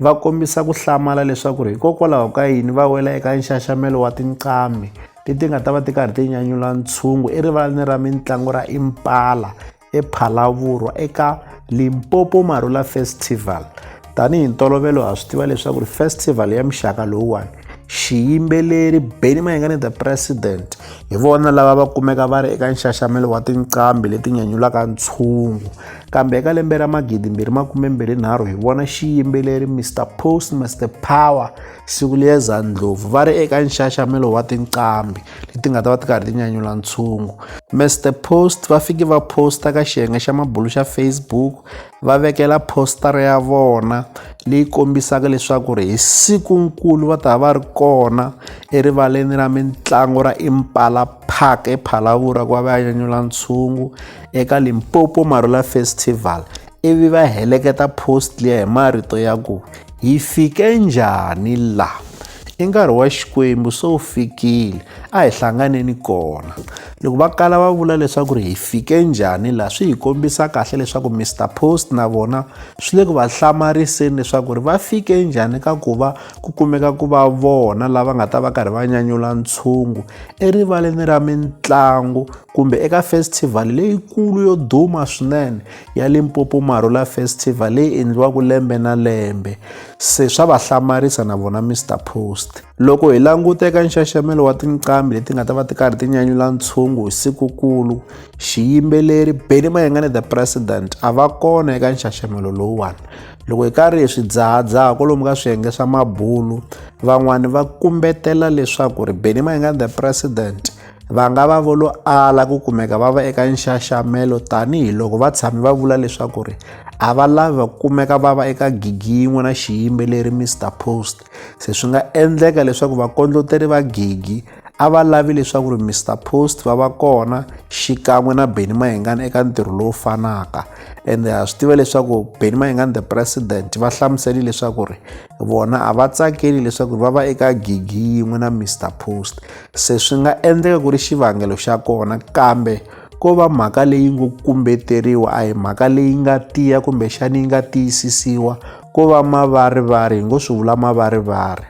va kombisa ku hlamala leswaku ri hikokwalaho ka yini va wela eka nxaxamelo wa tinqambi leti nga ta va ti karhi ti nyanyula ntshungu erivaleni ra mitlangu ra impala ephalavurwa eka limpopo marula festival tanihi ntolovelo ha swi tiva leswaku ri festival ya muxaka lowuwani xiyimbeleri benny mayengani the president hi vona lava va kumeka va ri eka nxaxamelo wa tinqambi leti nyanyulaka ntshungu kambe eka lembe ra magidi mbirhi makume mbirhi nharhu hi vona xiyimbeleri mr post mr power siku liya zandlovu va ri eka nxaxamelo wa tinqambi leti nga ta va ti karhi ti nyanyula ntshungu mr post va fike va posta ka xiyenge xa mabulu xa facebook va vekela postara ya vona leyi kombisaka leswaku ri hi siku nkulu va ta va ri kona erivaleni ra mitlangu ra impala Park ePhalavura ku va va ya nyanyula ntshungu eka Limpopo Marula Festival ivi va heleketa post liya hi marito ya ku hi fike njhani la i nkarhi wa xikwembu so fikile a hi hlanganeni kona loko va kala va vula leswaku ri hi fike njhani la swi hi kombisa kahle leswaku Mr Post na vona swi le ku va hlamariseni leswaku ri va fike njhani ka ku va ku kumeka ku va vona lava nga ta va karhi va nyanyula ntshungu erivaleni ra mitlangu kumbe eka festival leyikulu yo duma swinene ya limpopo marula festival leyi endliwaka lembe na lembe se swa va hlamarisa na vona mr post loko hi languta eka nxaxamelo wa tinqambi leti nga ta va ti karhi ti nyanyula ntshungu hi sikukulu xiyimbeleri benny mayengane the president a va kona eka nxaxamelo lowuwani loko hi karhi hi swi dzahadzaha kolomu ka swiyenge swa mabulu van'wani va kumbetela leswaku ri benny mayingani the president va nga va vo lo ala ku kumeka va va eka nxaxamelo tanihiloko va tshami va vula leswaku ri a va lavi va kumeka va va eka gigi yin'we na xiyimbeleri mr post se swi nga endleka leswaku vakondloteri va gigi a va lavi leswaku ri mr post va va kona xikan'we na beni mayengani eka ntirho lowu fanaka ende ha swi tiva leswaku beni mayengani the president va hlamuseli leswaku ri vona a va tsakeli leswaku va va eka gigi yin'we na mr post se swi nga endleka ku ri xivangelo xa kona kambe ko va mhaka leyi ngo kumbeteriwa a hi mhaka leyi nga tiya kumbexani yi nga tiyisisiwa ko va mavarivari hi ngo swi vula mavarivari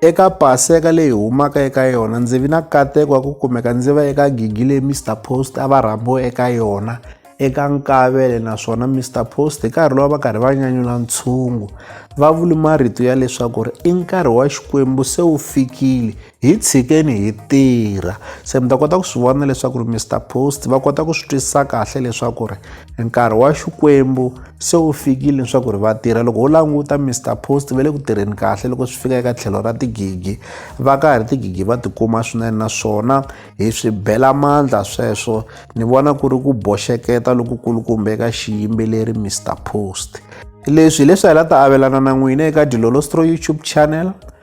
eka paseka leyi humaka eka yona ndzi vi na nkateko wa ku kumeka ndzi va eka gigi leyi mr post a va rhambiwe eka yona eka nkavele naswona mr post hi nkarhi lowu va karhi va nyanyula ntshungu va vuli marito ya leswaku ri i nkarhi wa xikwembu se wu fikile hi tshikeni hi tirha se mi ta kota ku swi vona leswaku ri mr post va kota ku swi twisisa kahle leswaku ri nkarhi wa xikwembu se wu fikile leswaku ri va tirha loko ho languta mr post va le ku tirheni kahle loko swi fika eka tlhelo ra tigigi va ka ha ri tigigi va tikuma swinene naswona hi swi bela mandla sweswo ni vona ku ri ku boxeketa lokukulu kumbe eka xiyimbeleri mr post leswi hileswi hi la ta avelana na n'wina eka dilolostro youtube channel